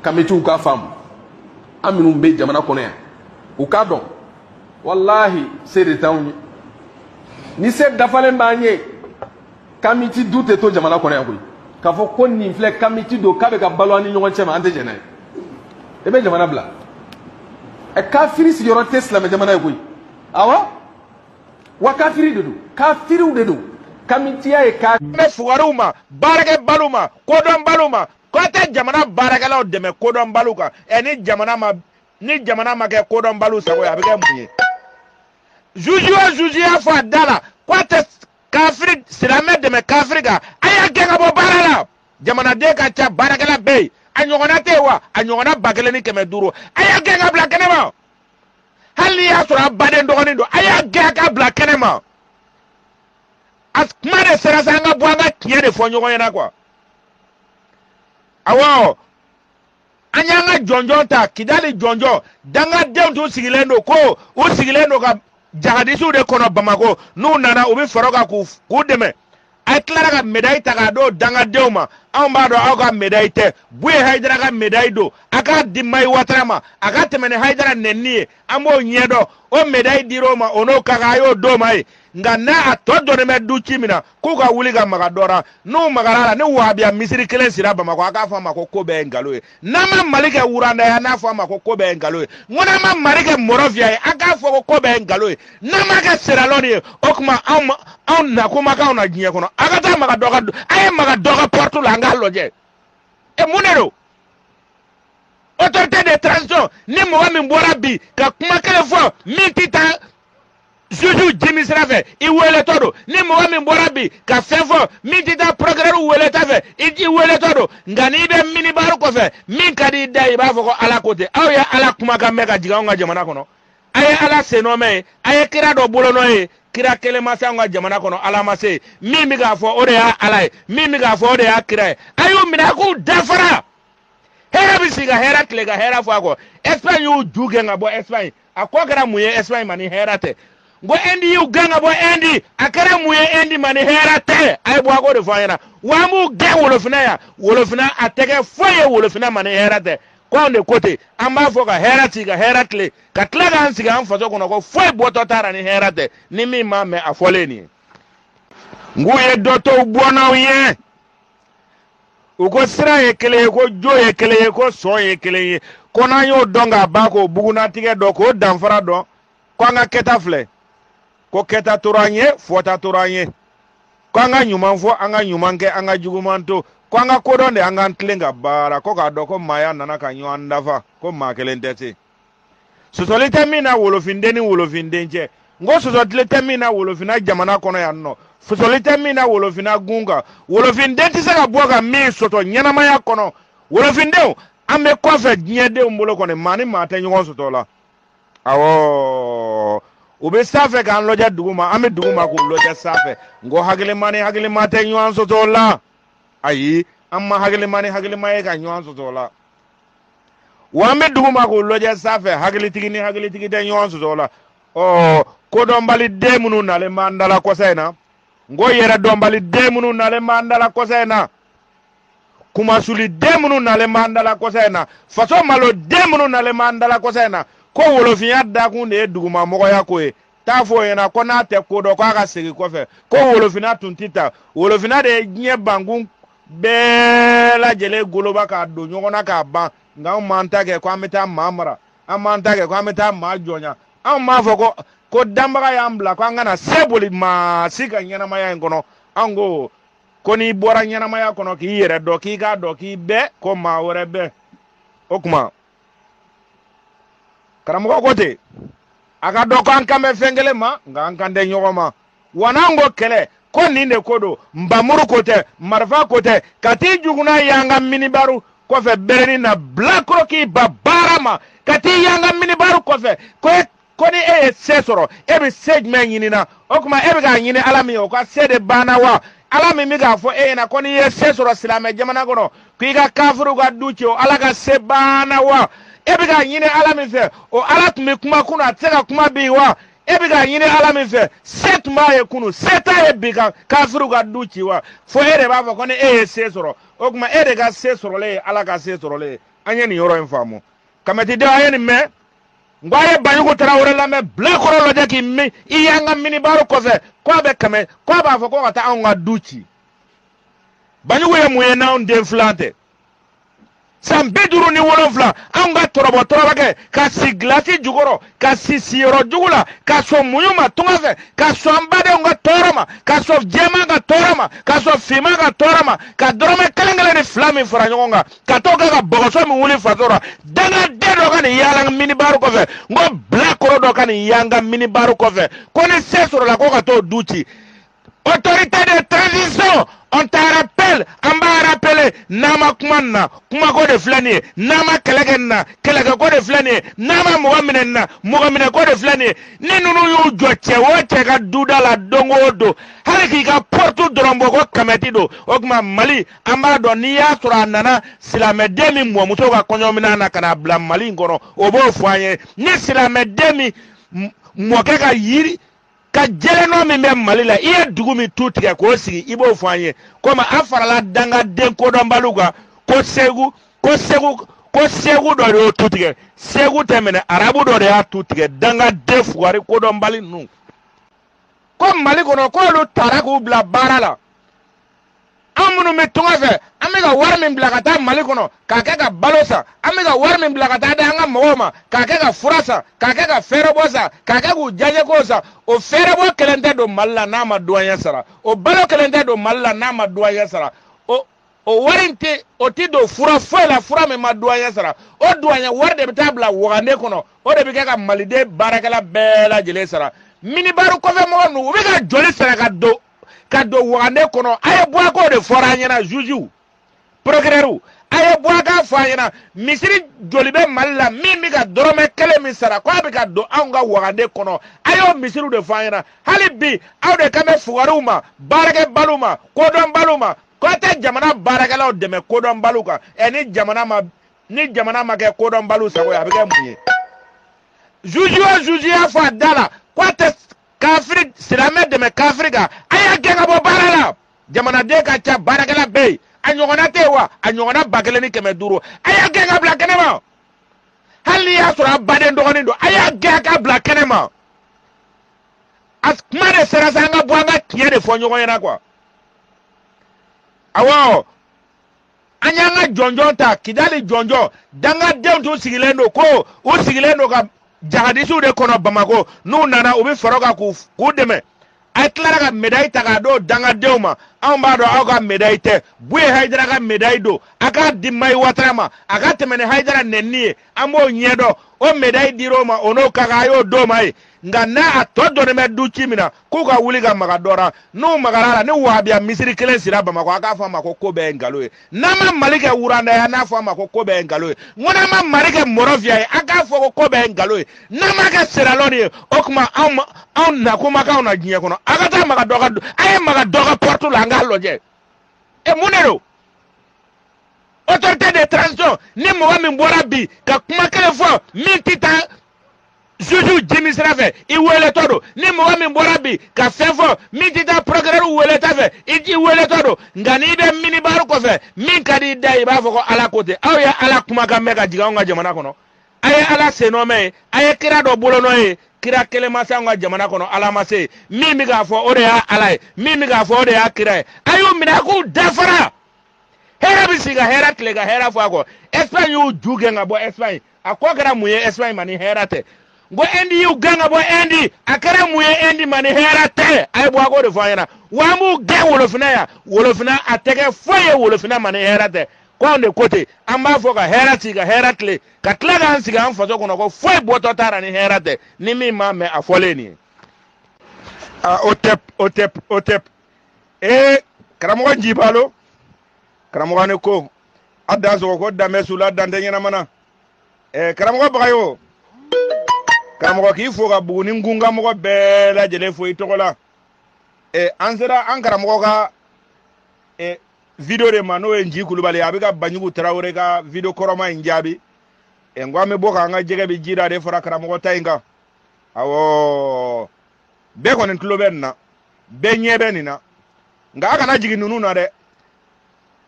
kamitiw k'a faamu an minnu bɛ jamana kɔnɔ yan u k'a dɔn walahi se de t'anw ye ni se dafalen b'an ye kamiti du tɛ to jamana kɔnɔ yan koyi k'a fɔ ko nin filɛ kamiti don k'a bɛ ka balo an ni ɲɔgɔn cɛ ma an tɛ jɛn n'a ye i bɛ jamana bila ɛ kafiri sigiyɔrɔ tɛ silamɛ jamana ye koyi awɔ wa kafiri de don kafiriw de don kamitiya ye ka bɛn fugariw ma baarakɛbaliw ma kodɔnbaliw ma ko a tɛ jamana baarakɛlaw dɛmɛ kodɔnbaliw kan ɛ ni jamana ma ni jamana ma kɛ kodɔnbaliw sago ye a bɛ kɛ mun ye zuzi o zuzi y'a fɔ a da la ko a tɛ kafiri silamɛ dɛmɛ kafiri kan a y'a gɛn ka bɔ baara la jamanaden ka ca baarakɛla bɛ yen a ɲɔgɔnna tɛ yen wa a ɲɔgɔnna ba kelen ni kɛmɛ duuru a y'a gɛn ka bila kɛnɛ ma hali n'i y'a sɔrɔ a baden dɔgɔnin don a y'a gɛn ka bila kɛnɛ ma a kuma de sera sa an ka bɔ an ka tiɲɛ de fɔ ɲɔgɔn ɲɛna kuwa awɔ an y'an ka jɔnjɔn ta kidali jɔnjɔn dangadenw tun sigilen don ko u sigilen don ka jahadisiw de kɔnɔ bamako n'u nana u bɛ fara u kan k'u dɛmɛ a tilara ka medayi ta k'a d'o dangadenw ma anw b'a dɔn aw ka medayi tɛ buye hayidara ka medayi don a k'a di mahi watara ma a ka tɛmɛ ni hayidara nɛnini ye an b'o ɲɛdɔn o medayi dir'o ma o n'o ka kan a y'o d'o ma ye nka n'a tɔ dɔnnen bɛ du ci min na k'u ka wuli ka maga dɔ la n'u magara la ni wahabiya misiri kelen sira bamakɔ a k'a fɔ a ma ko ko bɛɛ ye nkalon ye n'an ma mali kɛ wuranda ye n'a fɔ a ma ko ko bɛɛ ye nkalon ye n ko n'an ma mali kɛ mɔrɔfiya ye an k'a fɔ ko ko bɛɛ ye nkalon ye n'an ma kɛ seralɔni ye o tuma anw ma anw nakun ma k'anw na diɲɛ kɔnɔ a ka taa maga dɔ ka a ye maga dɔ ka pɔrɔtu la an k'a lajɛ e mun de don autorité de transition ni mɔgɔ min bɔra bi ka kuma kelen fɔ min tɛ taa zuzi jimi sira fɛ i weeletɔ don ni mɔgɔ min bɔra bi ka fɛn fɔ min tɛ taa procureur weeleta fɛ i i weeletɔ don nka n'i bɛ minibari kɔfɛ min ka di i da ye i b'a fɔ ko ala ko ten aw ye ala kumakan mɛn ka jigin anw ka jamana kɔnɔ a ye ala sennɔ mɛn ye a ye kira dɔ bolonɔ ye kira kelen ma se anw ka jamana kɔnɔ ala ma se min bɛ k'a fɔ o de y'a ala ye min bɛ k'a fɔ o de y'a kira ye a y'u minɛ a k'u dafara hɛrɛ bɛ sigi ka hɛrɛ tile ka hɛrɛ fɔ a kɔ espagne y'u ju gɛn ka bɔ espagne a kɔ kɛra mun ye espagne ma ni hɛrɛ tɛ n ko ɛndi y'u gɛn ka bɔ ɛndi a kɛra mun ye ɛndi ma ni hɛrɛ tɛ a ye bɔ a k'o de fɔ an ɲɛna wa an b'u gɛn wolofinna yan wolofinna a tɛ kɛ foyi ye wolofinna ma ni hɛrɛ tɛ ko anw de ko ten an b'a fɔ ka hɛrɛ si ka hɛrɛ tile ka tila k'an sigi an faso kɔnɔ ko foyi bɔtɔ t'a la ni hɛrɛ tɛ ni min m'a mɛn a fɔlen nin ye n k'u ye dɔ to u bɔnnaw ye u ko sira ye kelen ye ko jo ye kelen ye ko sɔn ye kelen ye ko n'an y'o dɔn k'a ban k'o bugunnatigɛ dɔn k'o danfara dɔn ko an ka kɛta filɛ ko kɛta tora an ye fɔta tora an ye ko an ka ɲuman fɔ an ka ɲuman kɛ an ka juguman to ko an ka ko dɔn de an k'an tilen ka baara ko k'a dɔn ko maaya nana ka ɲɔgɔn dafa ko maa kelen tɛ se sɔsɔli tɛ min na wolofinden ni wolofinden cɛ n ko sɔsɔtile tɛ min na wolofinna jamana kɔnɔ yan nɔ sɔsɔli tɛ min na wolofinna gun kan wolofinden tɛ se ka bɔ ka min sɔsɔ ɲɛnamaya kɔnɔ wolofindenw an bɛ kɔfɛ diɲɛdenw bolo kɔni maa ni maa tɛ ɲɔgɔn sɔsɔ la awɔ u bɛ sanfɛ k'an lɔjɛ dugu ma an bɛ dugu ma k'u lɔjɛ sanfɛ n ko hakilima ni hakilima tɛ ɲɔgɔn sɔsɔ la ayi an ma hakilima ni hakilima ye ka ɲɔgɔn sɔsɔ la wa an bɛ dugu ma k'u lɔjɛ sanfɛ hakilitigi ni hakilitigi tɛ ɲɔgɔn sɔsɔ la ɔ kodɔnbali den minnu nalen b'an dala kɔsa in na n ko yɛrɛdɔnbali den minnu nalen b'an dala kɔsa in na kumasuli den minnu nalen b'an dala kɔsa in na faso malo den minnu nalen b'an dala kɔsa in na ko wolofinya dakun de ye dugumamɔgɔya ko ye t'a fɔ o ɲɛna ko n'a tɛ ko dɔn k'a ka segin kɔfɛ ko wolofinna tun tɛ tan wolofinna de ye diɲɛ bankun bɛɛ lajɛlen goloba k'a don ɲɔgɔn na k'a ban nka anw m'an ta kɛ ko an bɛ taa maa mara an m'an ta kɛ ko an bɛ taa maa jɔnya anw m'a fɔ ko danbaga y'an bila ko an kana se boli maa si ka ɲɛnamaya in kɔnɔ anw ko ko n'i bɔra ɲɛnamaya kɔnɔ k'i yɛrɛ dɔn k'i k'a dɔn k'i bɛ ko maa wɛrɛ bɛ o tuma karamɔgɔ ko ten a k'a dɔn ko an kan bɛ fɛn kelen ma nka an kan tɛ ɲɔgɔn ma wa n'an ko kɛlɛ ko nin de ko don npanmuru ko tɛ marifa ko tɛ ka t'i juguna y'an ka minibaru kɔfɛ bɛrɛni na bilakoro k'i ba baara ma ka t'i y'an ka minibaru kɔfɛ ko ko ni e ye se sɔrɔ e bɛ se jumɛn ɲini na o tuma e bɛ k'a ɲini ala min ye o ka se de banna wa ala min bɛ k'a fɔ e ɲɛna ko n'i ye se sɔrɔ silamɛ jamana kɔnɔ k'i ka kafiriw ka du ci o ala ka se banna wa e bɛ k'a ɲini ala min fɛ o ala tun bɛ kuma kunun a tɛ se ka kuma bi wa e bɛ k'a ɲini ala min fɛ se tun b'a ye kunun se t'a ye bi ka kafiriw ka du ci wa fo e de b'a fɔ ko ni e ye se sɔrɔ o tuma e de ka se sɔrɔlen ye ala ka se sɔrɔlen ye an ye nin yɔrɔ in faamu kamɛtidenw an ye nin mɛn n ko a ye banjugu tarawele lamɛn bilakoro lajɛ k'i mi i y'an ka minibaru kɔfɛ ko a bɛ k'a mɛn ko a b'a fɔ ko ka taa anw ka du ci banjugu ye mun ye n'anw den filan tɛ san bi duuru ni wolonfila anw ka tɔrɔbɔ tɔrɔbakɛ ka si gilasi jukɔrɔ ka si siyɔrɔ jugu la ka sɔn muɲu ma tunga fɛ ka sɔn an badenw ka tɔɔrɔ ma ka sɔn jɛman ka tɔɔrɔ ma ka sɔn finman ka tɔɔrɔ ma ka dɔrɔmɛ kelen kelen ni fila min fara ɲɔgɔn kan ka t'o kɛ ka bɔgɔso min wuli faso la dangaden dɔ ka n'i yaala minibaru kɔfɛ n ko bilakoro dɔ ka n'i yanga minibaru kɔfɛ ko ni se sɔrɔla ko ka t'o du ci autorité de transition on te rappelle an b'a rappeler n'an ma kuma nin na kumako de filɛ nin ye n'an ma kɛlɛ kɛ nin na kɛlɛkɛko de filɛ nin ye n'an ma mɔgɔ minɛ nin na mɔgɔ minɛko de filɛ nin ye ni ninnu y'u jɔ cɛ o cɛ ka duda la don o don hali k'i ka pɔritu dɔrɔn bɔ ko kamɛti don o tuma mali an b'a dɔn n'i y'a sɔrɔ a nana silamɛden min mɔmuso ka kɔɲɔminɛn na ka n'a bila mali in kɔnɔ o b'o fɔ an ye ni silamɛden min m- mɔkɛ ka yiri ka jelenɔ min bɛ mali la i ye dugu min tu tigɛ k'o sigi i b'o fɔ an ye komi a farala dangaden kodɔnbaliw kan ko segu ko segu ko segu dɔ de y'o tu tigɛ segu tɛ minɛ arabu dɔ de y'a tu tigɛ dangaden fugari kodɔnbali ninnu ko mali kɔnɔ k'olu taara k'u bila baara la an minnu bɛ tunga fɛ an bɛ ka wari min bila ka taa mali kɔnɔ k'a kɛ ka balo san an bɛ ka wari min bila ka taa di an ka mɔgɔw ma k'a kɛ ka fura san k'a kɛ ka fɛɛrɛbɔ san k'a kɛ k'u diyaɲɛkow san o fɛɛrɛbɔ kelen tɛ don mali la n'a ma duwanyɛ sara o balo kelen tɛ don mali la n'a ma duwanyɛ sara o o wari in tɛ o tɛ don fura foyi la fura min ma duwanyɛ sara o duwanyɛ wari de bɛ taa bila wagande kɔnɔ o de bɛ kɛ ka maliden baarakɛla bɛɛ lajɛlen sara minibaru kɔfɛ mɔgɔ ninnu u bɛ ka joli sara ka don ka don wagande kɔnɔ a ye bɔ a k'o de fɔra an ɲɛna jugew procureurw a ye bɔ a k'a fɔ an ɲɛna misiri joli bɛ mali la min bɛ ka dɔrɔmɛ kelen min sara ko a bɛ ka don anw ka wagande kɔnɔ a y'o misiriw de fɔ an ɲɛna hali bi aw de kan bɛ fugariw ma baarakɛbaliw ma kodɔnbaliw ma ko a tɛ jamana baarakɛlaw dɛmɛ kodɔnbaliw kan ɛ ni jamana ma ni jamana ma kɛ kodɔnbaliw sago ye a bɛ kɛ mun ye juge o juge y'a fɔ a da la ko a tɛ kafiri silamɛ dɛmɛ kafiri kan a y'a gɛn ka bɔ baara la jamanaden ka ca baarakɛla bɛ yen a ɲɔgɔnna tɛ yen wa a ɲɔgɔnna ba kelen ni kɛmɛ duuru a y'a gɛn ka bila kɛnɛ ma hali n'i y'a sɔrɔ a baden dɔgɔnin don a y'a gɛn ka bila kɛnɛ ma a kuma de sera sa an ka bɔ an ka tiɲɛ de fɔ ɲɔgɔn ɲɛna quoi awɔ an y'an ka jɔnjɔn ta kidali jɔnjɔn dangadenw tun sigilen don ko u sigilen don ka jahadisiw de kɔnɔ bamako n'u nana u bɛ far'u kan k'u dɛmɛ a ye tilara ka medayi ta k'a d'o dangadenw ma anw b'a dɔn aw ka medayi tɛ buye hayidara ka medayi don a k'a di mayi watara ma a ka tɛmɛ ni hayidara nɛnini ye an b'o ɲɛdɔn o medayi dir'o ma o n'o ka kan a y'o d'o ma ye nka n'a a tɔgɔ dɔnnen bɛ du ci min na k'u ka wuli ka maga dɔ la n'u magara a la ni wahabiya misiri kelen sira bamakɔ a k'a fɔ a ma ko ko bɛɛ ye nkalon ye n'an ma mali kɛ wuranda ye n'a fɔ a ma ko ko bɛɛ ye nkalon ye n ko n'an ma mali kɛ mɔrɔfiya ye a k'a fɔ ko ko bɛɛ ye nkalon ye n'an ma kɛ seralɔn ye o tuma anw nakun ma k'anw na diɲɛ kɔnɔ a ka taa maga dɔ ka a ye maga dɔ ka porte la an k'a lajɛ e mun de don autorité de transition ni mɔgɔ min bɔra bi ka kuma kelen fɔ min tɛ taa juge jimi sira fɛ i weeletɔ don ni mɔgɔ min bɔra bi ka fɛn fɔ min tɛ taa procureur weeleta fɛ i weeletɔ don nka n'i bɛ minibar kɔfɛ min ka di i da i b'a fɔ ko ala ko ten aw ye ala kumakan mɛn ka jigin anw ka jamana kɔnɔ a ye ala sennɔ mɛn ye a ye kira dɔ bolonɔ ye kira kelen ma se anw ka jamana kɔnɔ ala ma se min bɛ k'a fɔ o de y'a ala ye min bɛ k'a fɔ o de y'a kira ye a y'u minɛ a k'u da fara hɛrɛ bɛ sigi ka hɛrɛ tile ka hɛrɛ fɔ a kɔ espagne y'u ju gɛn ka bɔ espagne a kɔ kɛra mun ye espagne ma ni hɛrɛ tɛ n ko inde y'u gɛn ka bɔ inde a kɛra mun ye inde ma ni hɛrɛ tɛ a ye bɔ a k'o de fɔ an ɲɛna wa an b'u gɛn wolofinna yan wolofinna a tɛ kɛ foyi ye wolofinna ma ni hɛrɛ tɛ ko anw de ko ten an b'a fɔ ka hɛrɛ si ka hɛrɛ tile ka tila k'an sigi an faso kɔnɔ ko foyi bɔtɔ t'a la ni hɛrɛ tɛ ni min m'a mɛn a fɔlen nin ye o tɛ ee karamɔgɔ jibalo karamɔgɔ ne ko a dansogo ko dan bɛ su la dan tɛ ɲɛnama na eh, karamɔgɔ bagayogo karamɔgɔ k'i fo ka buguni nkun ka mɔgɔ bɛɛ lajɛlen fo i tɔgɔ la eh, an sera an karamɔgɔ ka eh, video de ma n'o ye nji kulubali a bɛ ka banjugu tarawele ka video kɔrɔma in jaabi eh, n ko an bɛ bɔ k'an ka jɛgɛ bɛ ji da de fara karamɔgɔ ta in kan awɔ bɛɛ kɔni tulo bɛ nin na bɛɛ ɲɛ bɛ nin na nka a kana jigin ninnu na dɛ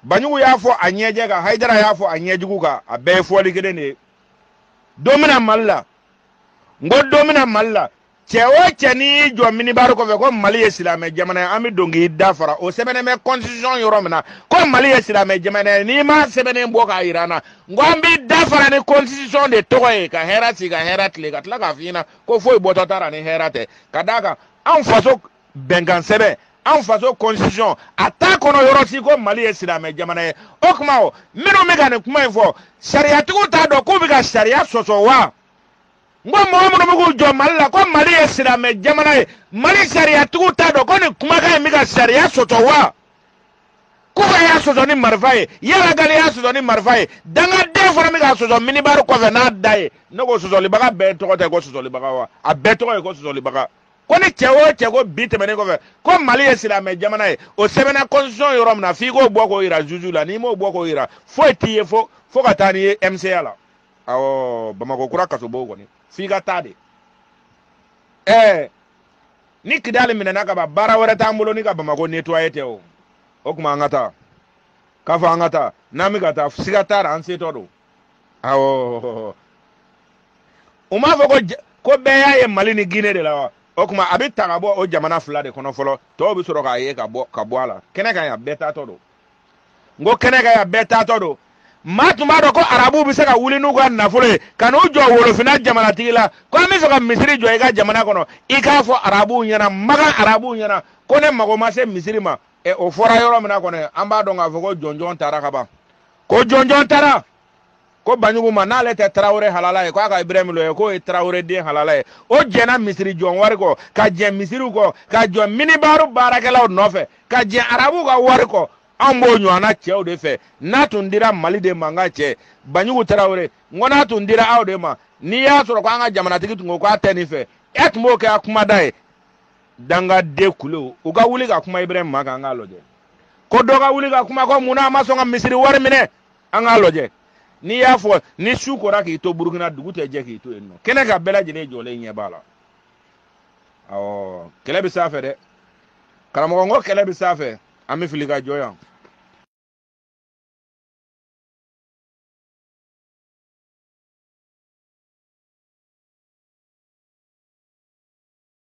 banjugu y'a fɔ a ɲɛjɛ kan hayidara y'a fɔ a ɲɛjugu kan a bɛɛ ye fɔli kelen de ye don bɛna mali la n ko don bɛna mali la cɛ o cɛ n'i y'i jɔ minibari kɔfɛ ko mali ye silamɛ jamana ye an bɛ don k'i da fara o sɛbɛnnen bɛ constitution yɔrɔ min na ko mali ye silamɛ jamana ye n'i ma sɛbɛnnen bɔ k'a jira an na n ko an b'i da fara ni constitution de tɔgɔ ye ka hɛrɛ si ka hɛrɛ tile ka tila k'a f'i ɲɛna ko foyi bɔtɔ t'a la ni hɛrɛ tɛ ka d'a kan anw faso bɛnkan sɛbɛn an faso constitution a t'a kɔnɔ yɔrɔ si ko mali ye silamɛ jamana ye o tuma o minnu bɛ ka nin kuma in fɔ sariyatigiw t'a dɔn k'u bɛ ka sariya sɔsɔ wa n ko mɔgɔ minnu bɛ k'u jɔ mali la ko mali ye silamɛ jamana ye mali sariyatigiw t'a dɔn ko nin kumakan in bɛ ka sariya sɔsɔ wa kufa y'a sɔsɔ ni marifa ye iyad ag gali y'a sɔsɔ ni marifa ye dangaden fana bɛ k'a sɔsɔ minibari kɔfɛ n'a da ye ne ko sɔsɔlibaga bɛɛ tɔgɔ tɛ ko sɔsɔlibaga wa a bɛɛ tɔgɔ ye ko sɔsɔlibaga ko ni cɛ o cɛ ko bi tɛmɛnen kɔfɛ ko mali ye silamɛ jamana ye o sɛbɛnna constitution yɔrɔ min na f'i k'o bɔ k'o yira juge la n'i m'o bɔ k'o yira foyi t'i ye fo ka taa n'i ye mca la awɔ bamakɔ kura kasobon kɔni f'i ka taa de ɛɛ ni kidali minɛna ka ban baara wɛrɛ t'an bolo ni ka bamakɔ nettoyer tɛ o o kuma an ka taa k'a fɔ an ka taa n'an bɛ ka taa siga t'a ra an setɔ don awɔ u m'a fɔ ko bɛɛ y'a ye mali ni guinee de la wa o kuma a bɛ taga bɔ o jamana fila de kɔnɔ fɔlɔ tɔw bɛ sɔrɔ k'a ye ka bɔ a la kɛnɛ kan yan bɛɛ taatɔ don n ko kɛnɛ kan yan bɛɛ taatɔ don maa tun b'a dɔn ko arabuw bɛ se ka wuli n'u ka nafolo ye ka n'u jɔ wolofinna jamanatigi la ko an bɛ sɔn ka misiri jɔ i ka jamana kɔnɔ i k'a fɔ arabuw ɲɛna magan arabuw ɲɛna ko ne mago ma se misiri ma ɛ o fɔra yɔrɔ min na kɔni an b'a dɔn k'a fɔ ko jɔnjɔn tara ka ban ko jɔnjɔn tara ko baɲugu ma n'ale tɛ tarawele halala ye ko a ka ibrahim lajɛ k'o ye tarawele den halala ye o jɛnna misiri jɔ wari kɔ ka jɛn misiriw kɔ ka jɔn minibaru baarakɛlaw nɔfɛ ka jɛn arabuw ka wari kɔ an b'o ɲɔgɔnna cɛw de fɛ n'a tun dira mali de ma n ka cɛ baɲugu tarawele n ko n'a tun dira aw de ma n'i y'a sɔrɔ ko an ka jamanatigi tun ko k'a tɛ nin fɛ e tun b'o kɛ a kumada ye dangaden kulu u ka wuli ka kuma ibrahim ma k'an k'a lajɛ ko dɔ ka wuli ka kuma ko mun na a ma sɔn ka misiri wari minɛ an k'a lajɛ n'i y'a fɔ ni su kora k'i to burukina dugu tɛ jɛ k'i to yen nɔ kɛnɛ kan bɛɛ lajɛlen jɔlen ɲɛ b'a la awɔ kɛlɛ bɛ s'a fɛ dɛ karamɔgɔ n ko kɛlɛ bɛ s'a fɛ an bɛ fili ka jɔ yan